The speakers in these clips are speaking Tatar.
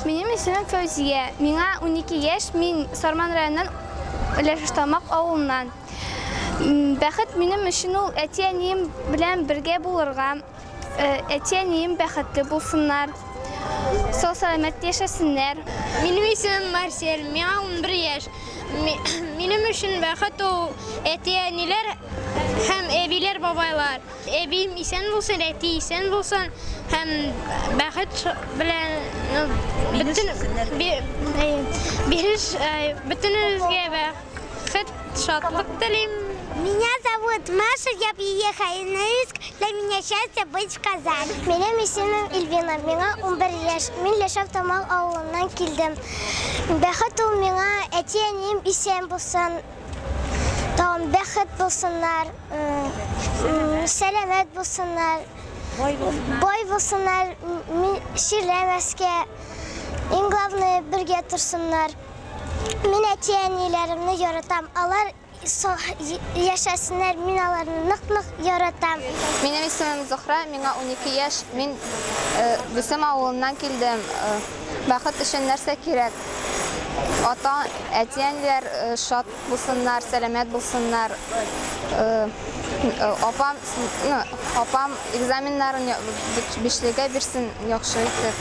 Минем исемем Фәүзия. Миңа 12 яшь, мин Сарман районыннан Ләшештамак авылыннан. Бәхет минем өчен ул әти-әнием белән бергә булырга, э, әти-әнием бәхетле булсыннар, сау-сәламәт яшәсеннәр. Минем исемем Марсель, миңа 11 яшь. Минем өчен бәхет ул әти-әниләр һәм әбиләр-бабайлар. Әбием исән булсын, әти исән булсын һәм бәхет белән бөтен биреш бөтенебезгә бәхет, шатлык телим. Меня зовут Маша, я приехала из Норильск. Для меня счастье быть в Казани. Минем исемем Ильвина, миңа 11 яшь. Мин Лешов Тамал авылыннан килдем. Бәхет ул миңа әти-әнием исән булсын, тагын бәхет булсыннар. Сәләмәт булсыннар, бай булсыннар, ширләмәскә. Иң главное, бергә торсыннар. Мин әти-әниләремне яратам. Алар яшәсеннәр, мин аларны нык-нык яратам. Минем исемем Зухра, миңа 12 яшь. Мин э, Бүсем авылыннан килдем. Э, бәхет өчен нәрсә кирәк? Ата, әти-әниләр э, шат Булсыннар, сәламәт булсыннар. Апам, ну, апам экзаменнарын бишлегә бирсен яхшы итеп.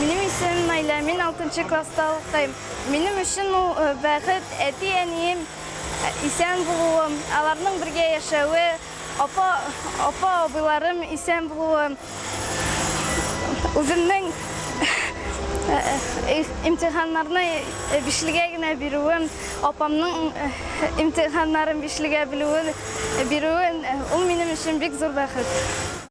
Минем исемем Найля, мин 6 класста укыйм. Минем өчен ул бәхет, әти-әнием исән булуым, аларның бергә яшәве, Апа, апа, абыйларым исән булуы, үземнең имтиханнарны бишлегә генә бирүем, апамның имтиханнарын бишлегә белүен, бирүен, ул минем өчен бик зур бәхет.